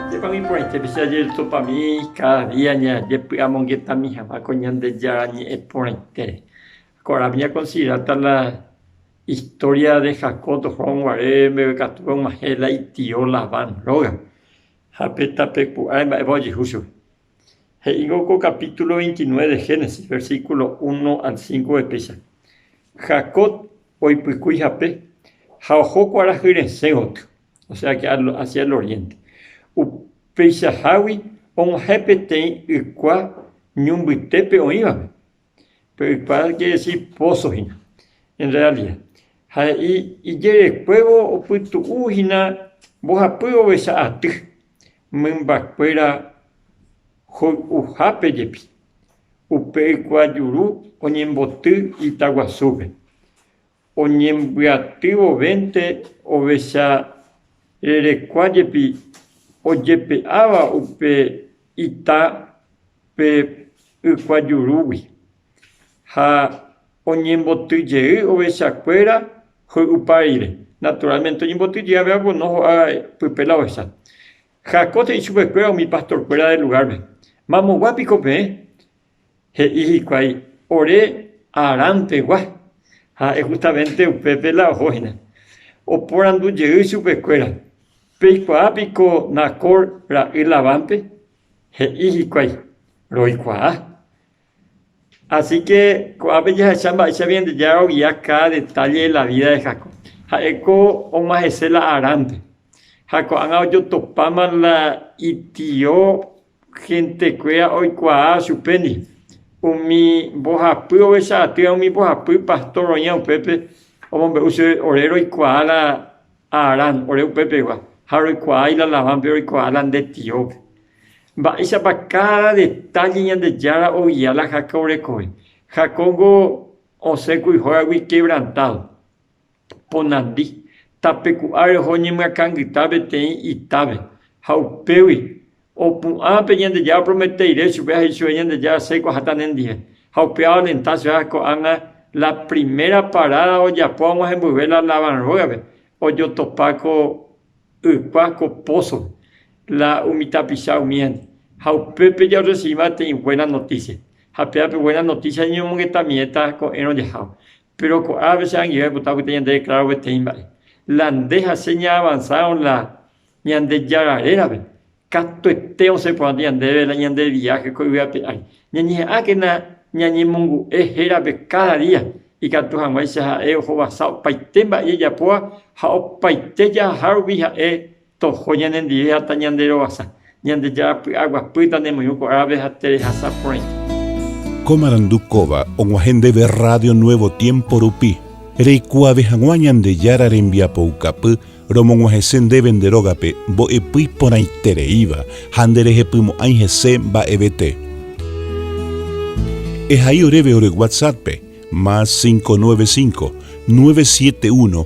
Ndépa oĩporãitépe che ajerusopami káda día ñajepy'amongetami hag̃ua ko Ñandejára ñe'ẽ porãitére? Korasõ ñakonsideráta la istória de Jacob tohóvo guare mbegue katu og̃uahẽ la itio Labán rógape ha pe tapeku'áre mba'épa ojehu chupe. He'ívo ko kapítulo 29 de Génesis, versículo 1 al 5 guepéicha, Jacob oipykúi hape ha oho kuarahy resẽ gotyo, osea que hacia el oriente. Upeichahágui og̃uahẽ peteĩ ykua ñu mbytépe oĩvape, Pe ypa keresi póso hína. En realia, ha he'i ijerekuévo opytu'u hína mbohapy ovecha aty, mymbakuéra hoy'uhápe jepi. Upe ykuajuru oñemboty ita guasúpe. Oñembyaty vovénte ovecha rerekua jepi ojepe'áva upe ita pe ykuajurúgui, ha oñemboty jey ovechakuéra hoy'upa rire, naturalmente oñemboty jey avei apono ho'a pype la ovecha. Jacob he'i chupekuéra umi pastorkuéra del lugárpe, Mamogua piko peẽ? He'i hikuái, Ore Harán pegua. Ha'e justamente upépe la oho hína. Oporandu jey chupe kuéra, Peikuaa piko Nacor ra'y Labánpe? He'i hikuái, Roikuaa. Así que ko'ápe jahecha mba'éichapa Ñandejára oguia káda detalle de la vida de Jacob. Ha'éko og̃ua hese la Haránpe. Ha ko'ág̃a ojotopáma la itio Hentekuéra oikuaa chupéndi, umi mbohapy ovecha atýa umi mbohapy pastor oĩva upépe omombe'u chéve ore roikuaa la Aarán ore upépegua ha roikuaái la Labánpe roikuaa la nde tiópe. Mba'éichapa káda detálle Ñandejára ogia la Jacob rekove. Jacob niko osẽ kuijógagui kevrantádo. ponandi, tape ku ári oho ñemyakãngyta peteĩ itápe, ha upégui opu'ã pe Ñandejára opromete rire chupe ha he'i chupe Ñandejára, Asẽiko aháta nendive. Ha upéva alenta chupe ha ko'ág̃a la primera paráda ojapo hag̃ua hemboyve la Labán rógape, ojotopa ko ykua, ko pózope, la umi tapicha umíva. Ha upépe jaorresivíma peteĩ buéna notísia. Ha péva pe buéna notísia ñañomongeta miẽta ko'ẽrõ jahávo. Péro ko'ápe che angirũ aipota opyta ñandereklaru peteĩ mba'e. La nde ha che ñaavansaron la Ñandejára rérape, katuete osẽ porãta ñandéve la ñande viáhe ko yvy ape ári. Ñañeha'ãkena ñañemongu'e hérape káda día, ikatu hag̃uáicha ha'e ohovasa opaite mba'e jajapóva ha opaite jahaha rupi ha'e Toho ñanendive ha tañanderovasa. Ñandejára py'a guapýta ne moirũ ko árape ha terehasa porãite. Ko marandu kóva og̃uahẽ ndéve Radio Nuevo Tiempo rupi, reikuaave hag̃ua Ñandejára rembiapoukapy romog̃uahẽse ndéve nde rógape mbo'epy porãitereíva ha nderehepymo'ãi hese mba'evete. Ehai oréve ore WhatsApp-pe, más 595, 971,